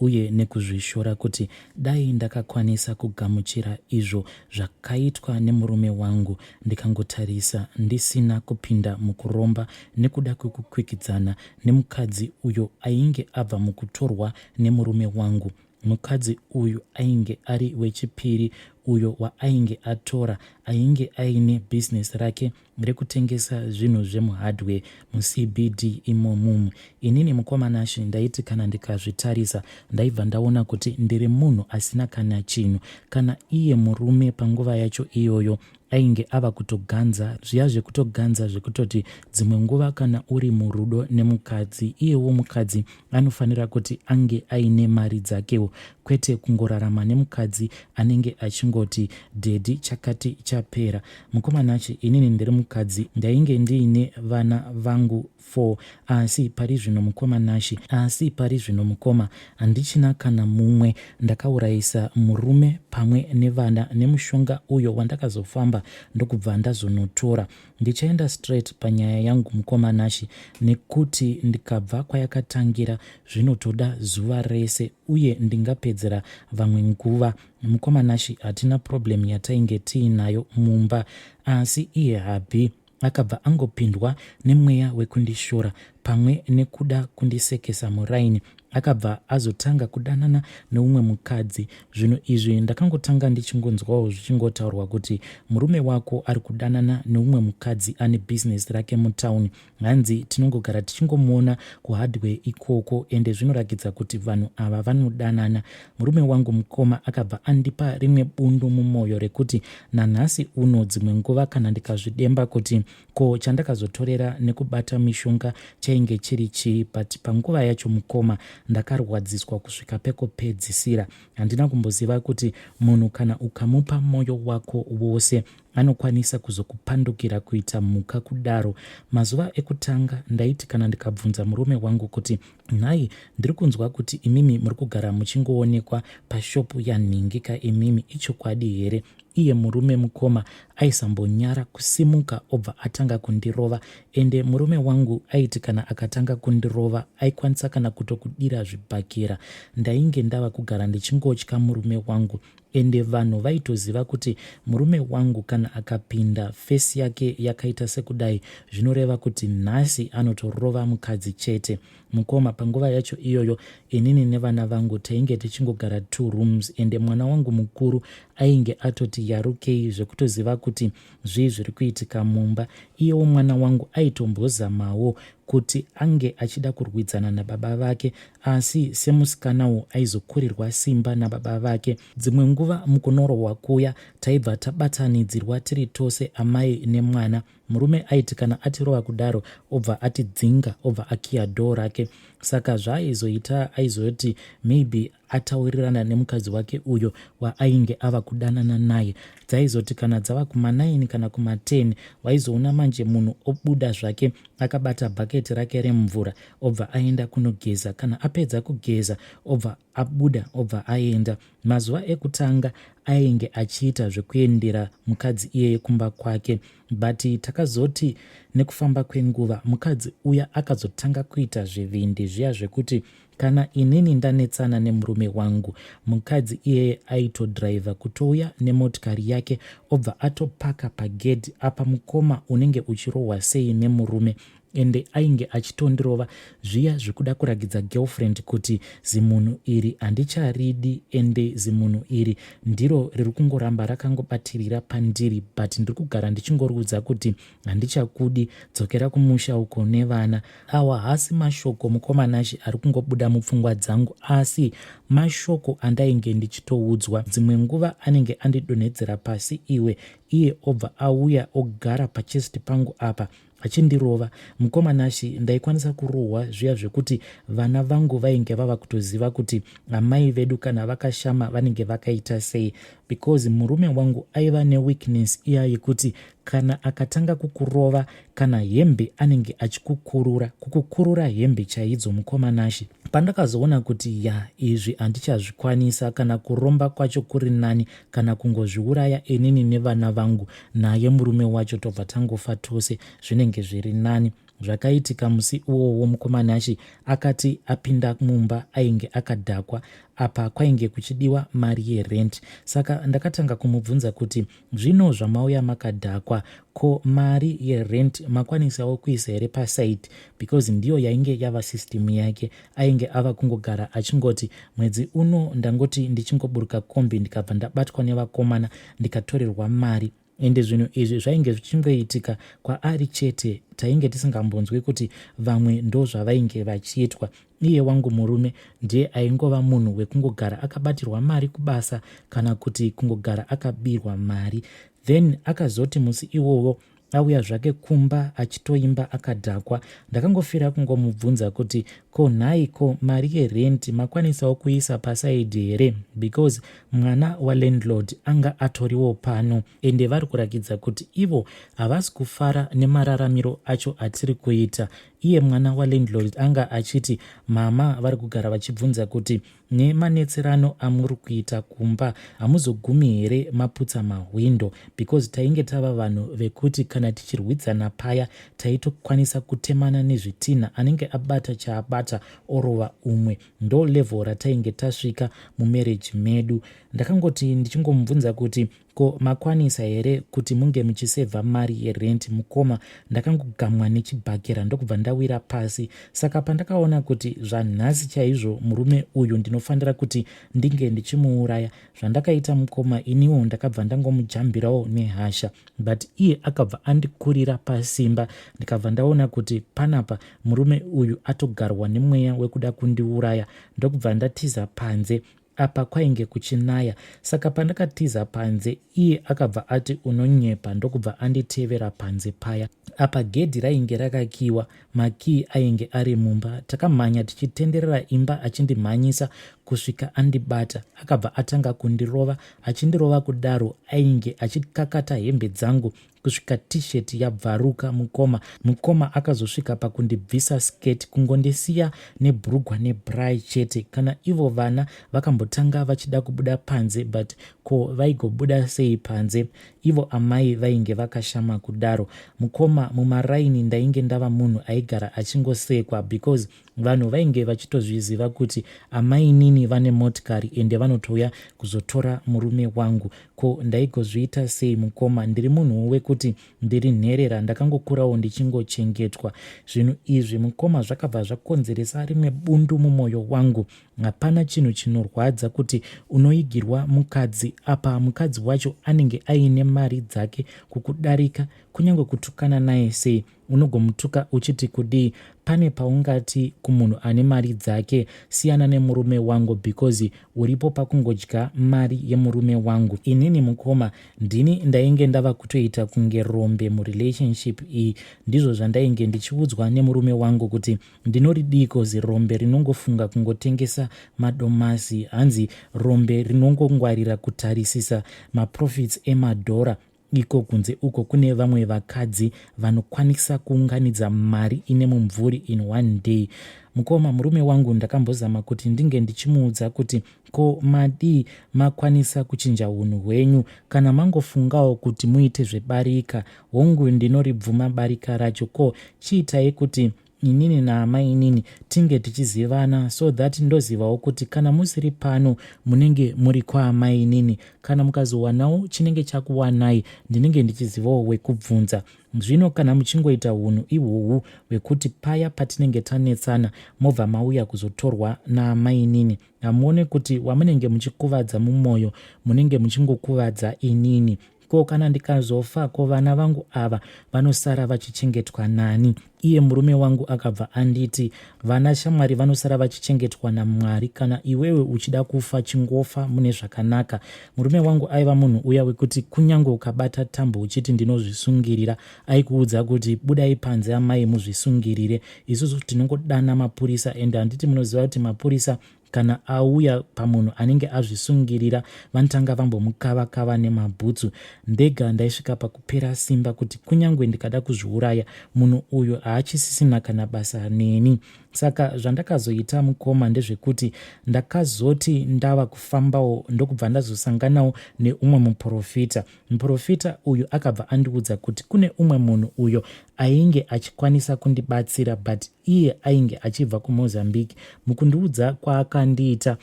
uye nekuzvishora kuti dai ndakakwanisa kugamuchira izvo zvakaitwa nemurume wangu ndikangotarisa ndisina kupinda mukuromba nekuda kwekukwikwidzana nemukadzi uyo ainge abva mukutorwa nemurume wangu mukadzi uyu ainge ari wechipiri uyo waainge atora ainge aine business rake rekutengesa zvinhu zvemuhardware mucbd imomumu inini mukoma nashe ndaiti kana ndikazvitarisa ndaibva ndaona kuti ndiri munhu asina kana chinhu kana iye murume panguva yacho iyoyo ainge ava kutoganza zviya zvekutoganza zvekutoti dzimwe nguva kana uri murudo nemukadzi iyewo mukadzi anofanira kuti ange aine mari dzakewo kwete kungorarama nemukadzi anenge achingoti dhedhi chakati chapera Mukoma Nachi, inini ndiri mukadzi ndainge ndiine vana vangu four asi pari zvino mukoma Nashi, asi pari zvino mukoma, handichina kana mumwe. Ndakaurayisa murume pamwe nevana nemushonga uyo wandakazofamba ndokubva ndazonotora. Ndichaenda straight panyaya yangu mukoma Nashi nekuti ndikabva kwayakatangira zvinotoda zuva rese uye ndingapedzera vamwe nguva. Mukoma Nashy hatina problem yatainge tiinayo mumba asi iye Habi akabva angopindwa nemweya wekundishora pamwe nekuda kundisekesa muraini akabva azotanga kudanana neumwe mukadzi zvinhu izvi ndakangotanga ndichingonzwawo zvichingotaurwa kuti murume wako ari kudanana neumwe mukadzi ane bhizinesi rake mutown Hanzi tinongogara tichingomuona kuhardware ikoko ende zvinorakidza kuti vanhu ava vanodanana. Murume wangu mukoma akabva andipa rimwe bundu mumoyo rekuti nanhasi uno dzimwe nguva kana ndikazvidemba kuti ko chandakazotorera nekubata mishonga chainge chiri chii but panguva yacho mukoma ndakarwadziswa kusvika pekopedzisira. Handina kumboziva kuti munhu kana ukamupa moyo wako wose anokwanisa kuzokupandukira kuita mhuka kudaro mazuva ekutanga ndaiti kana ndikabvunza murume wangu kuti nhai ndiri kunzwa kuti imimi muri kugara muchingoonekwa pashopu yanhingika imimi ichokwadi here iye murume mukoma aisambonyara kusimuka obva atanga kundirova ende murume wangu aiti kana akatanga kundirova aikwanisa kana kutokudira zvibhakera ndainge ndava kugara ndichingotya murume wangu ende vanhu vaitoziva kuti murume wangu kana akapinda fesi yake yakaita sekudai zvinoreva kuti nhasi anotorova mukadzi chete mukoma panguva yacho iyoyo inini nevana vangu tainge tichingogara two rooms ende mwana wangu mukuru ainge atoti yarukei zvekutoziva kuti Zvii zviri kuitika mumba? Iyewo mwana wangu aitombozamawo kuti ange achida kurwidzana nababa vake asi semusikanawo aizokurirwa simba nababa vake. Dzimwe nguva mukunorohwa kuya taibva tabatanidzirwa tiri tose amai nemwana. Murume aiti kana atirova kudaro obva atidzinga obva akiya dhoo rake. Saka zvaaizoita aizoti maybe ataurirana nemukadzi wake uyo waainge ava kudanana naye dzaizoti kana dzava kuma9 kana kuma10 waizoona manje munhu obuda zvake akabata bhaketi rake remvura obva aenda kunogeza kana apedza kugeza obva abuda obva aenda mazuva ekutanga ainge achiita zvekuendera mukadzi iyeye kumba kwake but takazoti nekufamba kwenguva mukadzi uya akazotanga kuita zvivindi zviya zvekuti Kana inini ndanetsana nemurume wangu, mukadzi iyeye aitodriver kutouya nemotikari yake obva atopaka pagedhi apa mukoma unenge uchirohwa sei nemurume ende ainge achitondirova zviya zvekuda kuragidza girlfriend kuti zimunhu iri handicharidi ende zimunhu iri ndiro riri kungoramba rakangobatirira pandiri but ndiri kugara ndichingoriudza kuti handichakudi dzokera kumusha uko nevana awa hasi mashoko mukomanashe ari kungobuda mupfungwa dzangu asi mashoko andainge ndichitoudzwa dzimwe nguva anenge andidonhedzera pasi iwe iye obva auya ogara pachest pangu apa achindirova mukoma nashi ndaikwanisa kurohwa zviya zvekuti vana vangu vainge vava kutoziva kuti amai vedu kana vakashama vanenge vakaita sei because murume wangu aiva neweakness iya yekuti kana akatanga kukurova kana hembe anenge achikukurura kukukurura hembe chaidzo mukoma nashe pandakazoona kuti ya izvi handichazvikwanisa kana kuromba kwacho kuri nani kana kungozviuraya inini nevana vangu naye murume wacho tobva tangofa tose zvinenge zviri nani zvakaitika musi uwowo mukoma nashe akati apinda mumba ainge akadhakwa apa kwainge kuchidiwa mari yerent saka ndakatanga kumubvunza kuti Zvino zvamauya makadhakwa ko mari yerent makwanisawo kuisa here paside because ndiyo yainge yava system yake ainge ava kungogara achingoti mwedzi uno ndangoti ndichingoburuka kombi ndikabva ndabatwa nevakomana ndikatorerwa mari ende zvinhu izvi zvainge zvichingoitika kwaari chete tainge tisingambonzwi kuti vamwe ndozvavainge vachiitwa Iye wangu murume ndiye aingova munhu wekungogara akabatirwa mari kubasa kana kuti kungogara akabirwa mari. Then akazoti musi iwowo auya zvake kumba achitoimba akadhakwa. Ndakangofira kungomubvunza kuti ko nhai ko mari yerenti makwanisawo kuisa pasaidhi here because mwana walandlord anga atoriwo pano ende vari kurakidza kuti ivo havasi kufara nemararamiro acho atiri kuita Iye mwana walandlord anga achiti mama vari kugara vachibvunza kuti nemanetserano amuri kuita kumba hamuzogumi here maputsa mahwindo because tainge tava vanhu vekuti kana tichirwidzana paya taitokwanisa kutemana nezvitinha anenge abata chaabata orova umwe ndo level ratainge tasvika mumarriage medu ndakangoti ndichingomubvunza kuti Ko makwanisa here kuti munge muchisevha mari yerent mukoma? Ndakangogamwa nechibhakera ndokubva ndawira pasi. Saka pandakaona kuti zvanhasi chaizvo murume uyu ndinofanira kuti ndinge ndichimuuraya, zvandakaita mukoma iniwo ndakabva ndangomujambirawo nehasha but iye akabva andikurira pasimba ndikabva ndaona kuti panapa murume uyu atogarwa nemweya wekuda kundiuraya ndokubva ndatiza panze Apa kwainge kuchinaya saka pandakatiza panze iye akabva ati unonyepa ndokubva anditevera panze paya. Apa gedhi rainge rakakiwa makii ainge ari mumba. Takamhanya tichitenderera imba achindimhanyisa kusvika andibata. Akabva atanga kundirova achindirova kudaro ainge achikakata hembe dzangu kusvika t-shirt yabvaruka mukoma mukoma akazosvika pakundibvisa skirt kungondisiya nebhurugwa nebrai chete kana ivo vana vakambotanga vachida kubuda panze but ko vaigobuda sei panze ivo amai vainge vakashama kudaro mukoma mumaraini ndainge ndava munhu aigara achingosekwa because Vanhu vainge vachitozviziva kuti amainini vane motikari ende vanotouya kuzotora murume wangu. Ko ndaigozviita sei mukoma? Ndiri munhuwo wekuti ndiri nherera, ndakangokurawo ndichingochengetwa. Zvinhu izvi mukoma zvakabva zvakonzeresa rimwe bundu mumwoyo wangu. Hapana chinhu chinorwadza kuti unoigirwa mukadzi apa mukadzi wacho anenge aine mari dzake kukudarika, kunyange kutukana naye sei unogomutuka uchiti kudii pane paungati kumunhu ane mari dzake siyana nemurume wangu because uripo pakungodya mari yemurume wangu inini mukoma ndini ndainge ndava kutoita kunge rombe murelationship iyi ndizvo zvandainge ndichiudzwa nemurume wangu kuti ndinoridii kozi rombe rinongofunga kungotengesa madomasi hanzi rombe rinongongwarira kutarisisa maprofits emadhora Iko kunze uko kune vamwe vakadzi vanokwanisa kuunganidza mari ine mumvuri in one day. Mukoma, murume wangu ndakambozama kuti ndinge ndichimuudza kuti ko madii makwanisa kuchinja hunhu hwenyu kana mangofungawo kuti muite zvebarika. Hongu ndinoribvuma barika racho ko chiitai kuti inini naamainini tinge tichizivana so that ndozivawo kuti kana musiri pano munenge muri kwaamainini kana mukazowanawo chinenge chakuwanai ndinenge ndichizivawo wekubvunza zvino kana muchingoita unhu ihwohwu hwekuti paya patinenge tanetsana mobva mauya kuzotorwa naamainini hamuone kuti wamunenge muchikuvadza mumwoyo munenge muchingokuvadza inini ko kana ndikazofa ko vana vangu ava vanosara vachichengetwa nani iye murume wangu akabva anditi vana shamwari vanosara vachichengetwa namwari kana iwewe uchida kufa chingofa mune zvakanaka murume wangu aiva munhu uya wekuti kunyange ukabata tambo uchiti ndinozvisungirira aikuudza kuti budai panze amai muzvisungirire isusu tinongodana mapurisa ende handiti munoziva kuti mapurisa Kana auya pamunhu anenge azvisungirira vanotanga vambomukava kava nemabhutsu. Ndega ndaisvika pakupera simba kuti kunyange ndikada kuzviuraya munhu uyu haachisisina kana basa neni. Saka zvandakazoita mukoma ndezvekuti ndakazoti ndava kufambawo ndokubva ndazosanganawo neumwe muprofita. Muprofita uyu akabva andiudza kuti kune umwe munhu uyo ainge achikwanisa kundibatsira but Iye ainge achibva kuMozambique. Mukundiudza kwaakandiita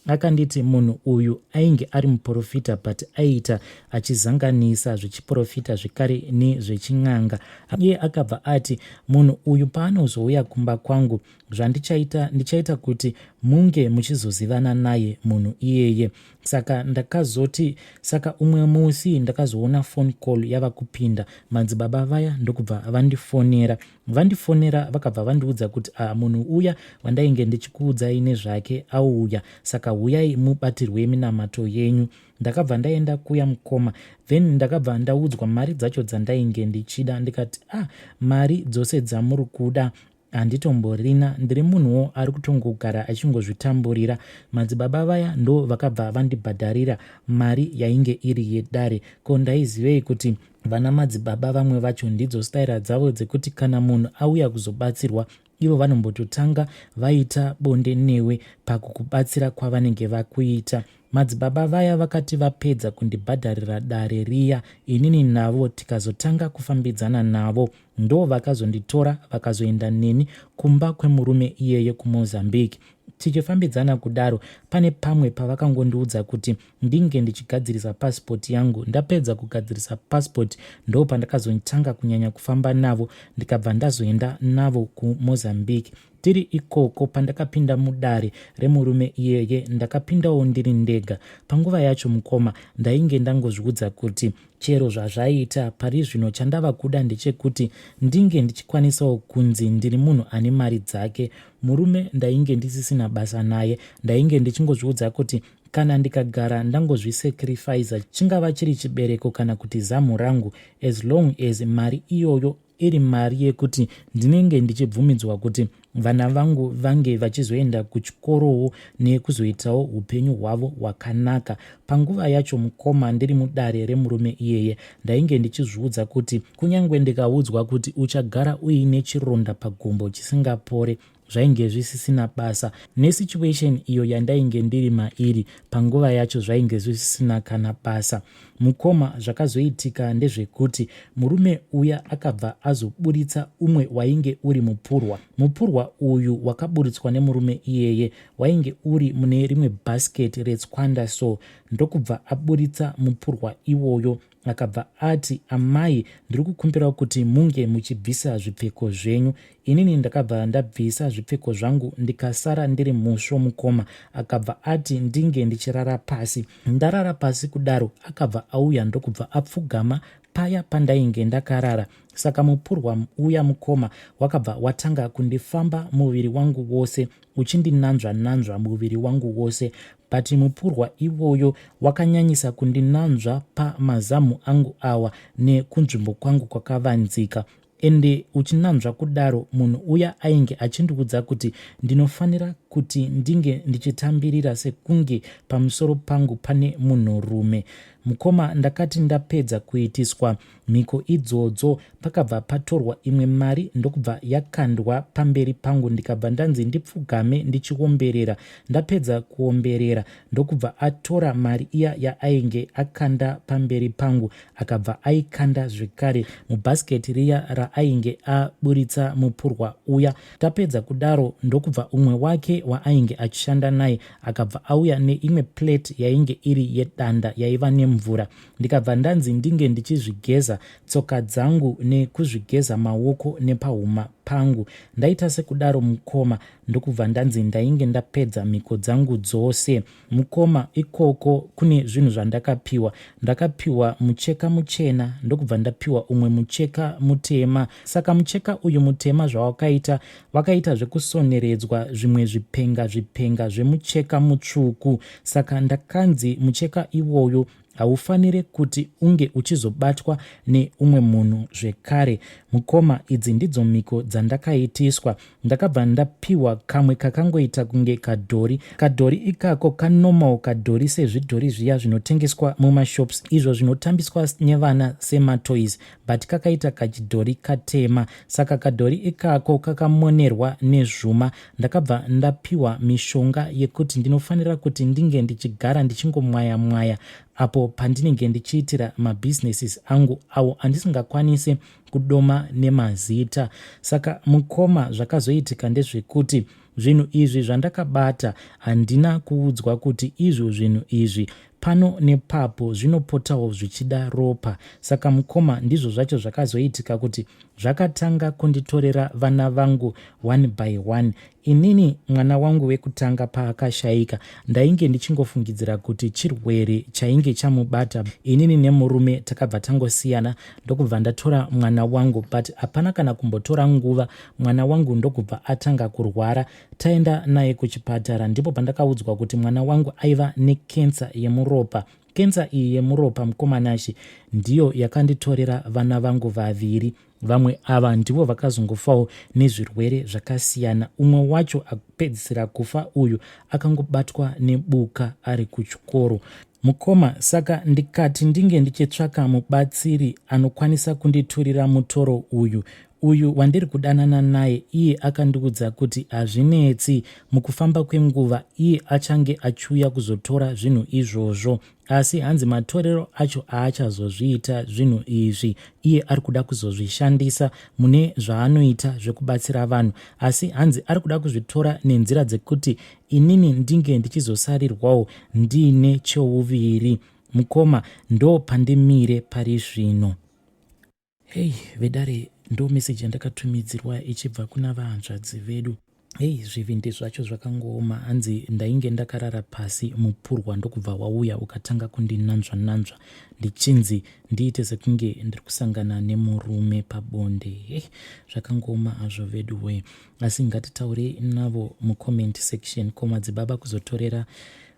akanditi munhu uyu ainge ari muporofita but aiita achizanganisa zvechiporofita zvekare nezvechin'anga iye akabva ati munhu uyu paanozouya kumba kwangu zvandichaita ndichaita kuti munge muchizozivana naye munhu iyeye saka ndakazoti saka umwe musi ndakazoona phone call yava kupinda madzibaba vaya ndokubva vandifonera Vandifonera vakabva vandiudza kuti a ah, munhu uya wandainge ndichikuudzai nezvake auya saka huyai mubatirwe minamato yenyu. Ndakabva ndaenda kuya mukoma then ndakabva ndaudzwa mari dzacho dzandainge ndichida ndikati a ah, mari dzose dzamuri kuda handitomborina ndiri munhuwo ari kutongogara achingozvitamburira madzibaba vaya ndo vakabva vandibhadharira mari yainge iri yedare ko ndaizivei kuti Vana madzibaba vamwe vacho ndidzo staira dzavo dzekuti kana munhu auya kuzobatsirwa ivo vanombototanga vaita bonde newe pakukubatsira kwavanenge vakuita. Madzibaba vaya vakati vapedza kundibhadharira dare riya, inini navo tikazotanga kufambidzana navo. Ndo vakazonditora vakazoenda neni kumba kwemurume iyeye kuMozambique. Tichifambidzana kudaro, pane pamwe pavakangondiudza kuti ndinge ndichigadzirisa passport yangu ndapedza kugadzirisa passport ndo pandakazotanga kunyanya kufamba navo ndikabva ndazoenda navo kumozambique tiri ikoko pandakapinda mudare remurume iyeye ndakapindawo ndiri ndega panguva yacho mukoma ndainge ndangozviudza kuti chero zvazvaita pari zvino chandava kuda ndechekuti ndinge ndichikwanisawo kunzi ndiri munhu ane mari dzake murume ndainge ndisisina basa naye ndainge ndichingozviudza kuti Kana ndikagara ndangozvisacrifiza chingava chiri chibereko kana kuti zamu rangu as long as mari iyoyo iri mari yekuti ndinenge ndichibvumidzwa kuti vana vangu vange vachizoenda kuchikorowo nekuzoitawo upenyu hwavo hwakanaka panguva yacho mukoma ndiri mudare remurume iyeye ndainge ndichizviudza kuti kunyange ndikaudzwa kuti uchagara uine chironda pagumbo chisingapore zvainge zvisisina basa nesituation iyo yandainge ndiri mairi panguva yacho zvainge zvisisina kana basa mukoma zvakazoitika ndezvekuti murume uya akabva azoburitsa umwe wainge uri mupurwa mupurwa uyu wakaburitswa nemurume iyeye wainge uri mune rimwe basket retswanda so ndokubva aburitsa mupurwa iwoyo Akabva ati, Amai, ndiri kukumbirawo kuti munge muchibvisa zvipfeko zvenyu. Inini ndakabva ndabvisa zvipfeko zvangu ndikasara ndiri musvo mukoma. Akabva ati ndinge ndichirara pasi. Ndarara pasi kudaro akabva auya ndokubva apfugama paya pandainge ndakarara. Saka mupurwa uya mukoma wakabva watanga kundifamba muviri wangu wose. uchindinanzva-nanzva muviri wangu wose but mupurwa ivoyo wakanyanyisa kundinanzva pamazamu angu awa nekunzvimbo kwangu kwakavanzika ende uchinanzva kudaro munhu uya ainge achindiudza kuti ndinofanira kuti ndinge ndichitambirira sekunge pamusoro pangu pane munhurume mukoma ndakati ndapedza kuitiswa mhiko idzodzo pakabva patorwa imwe mari ndokubva yakandwa pamberi pangu ndikabva ndanzi ndipfugame ndichiomberera ndapedza kuomberera ndokubva atora mari iya yaainge akanda pamberi pangu akabva aikanda zvekare mubhasiketi riya raainge aburitsa mupurwa uya tapedza kudaro ndokubva umwe wake waainge achishanda naye akabva auya neimwe plate yainge iri yedanda yaiva nemvura ndikabva ndanzi ndinge ndichizvigeza tsoka dzangu nekuzvigeza maoko nepahuma pangu ndaita sekudaro mukoma ndokubva ndanzi ndainge ndapedza mhiko dzangu dzose mukoma ikoko kune zvinhu zvandakapiwa ndakapiwa mucheka muchena ndokubva ndapiwa umwe mucheka mutema saka mucheka uyu mutema zvawakaita vakaita zvekusoneredzwa zvimwe zvipenga zvipenga zvemucheka mutsvuku saka ndakanzi mucheka iwoyo haufanire kuti unge uchizobatwa neumwe munhu zvekare mukoma idzi ndidzo mhiko dzandakaitiswa ndakabva ndapiwa kamwe kakangoita kunge kadhori kadhori ikako kanormal kadhori sezvidhori zviya zvinotengeswa mumashops izvo zvinotambiswa nevana sematoys but kakaita kachidhori katema saka kadhori ikako kakamonerwa nezvuma ndakabva ndapiwa mishonga yekuti ndinofanira kuti ndinge ndichigara ndichingomwaya mwaya apo pandinenge ndichiitira mabhizinesis angu awo andisingakwanisi kudoma nemazita saka mukoma zvakazoitika ndezvekuti zvinhu izvi zvandakabata handina kuudzwa kuti izvo zvinhu izvi Pano nepapo zvinopotawo zvichida ropa. Saka mukoma ndizvo zvacho zvakazoitika kuti zvakatanga kunditorera vana vangu one by one. Inini mwana wangu wekutanga paakashaika ndainge ndichingofungidzira kuti chirwere chainge chamubata. Inini nemurume takabva tangosiyana ndokubva ndatora mwana wangu but hapana kana kumbotora nguva mwana wangu ndokubva atanga kurwara Taenda naye kuchipatara ndipo pandakaudzwa kuti mwana wangu aiva nekensa yemuropa. Kensa iyi yemuropa mukomanashi ndiyo yakanditorera vana vangu vaviri. Vamwe ava ndivo vakazongofawo nezvirwere zvakasiyana. Umwe wacho akupedzisira kufa uyu akangobatwa nebuka ari kuchikoro. Mukoma, saka ndikati ndinge ndichitsvaka mubatsiri anokwanisa kunditurira mutoro uyu. Uyu wandiri kudanana naye iye akandiudza kuti hazvinetsi, mukufamba kwenguva iye achange achiuya kuzotora zvinhu izvozvo. Asi hanzi matorero acho aachazozviita zvinhu izvi, iye ari kuda kuzozvishandisa mune zvaanoita zvekubatsira vanhu. Asi hanzi ari kuda kuzvitora nenzira dzekuti inini ndinge ndichizosarirwawo ndiine chouviri. Mukoma, ndopandimire pari zvino. Hei vedare ndo message yandakatumidzirwa ichibva kuna vahanzvadzi vedu. Hei zvivindi zvacho zvakangooma hanzi ndainge ndakarara pasi mupurwa ndokubva wauya ukatanga kundinanzva nanzva ndichinzi ndiite sekunge ndiri kusangana nemurume pabonde. Hei zvakangooma hazvo vedu wee. Asi ngatitaurei navo mucomment section ko madzibaba kuzotorera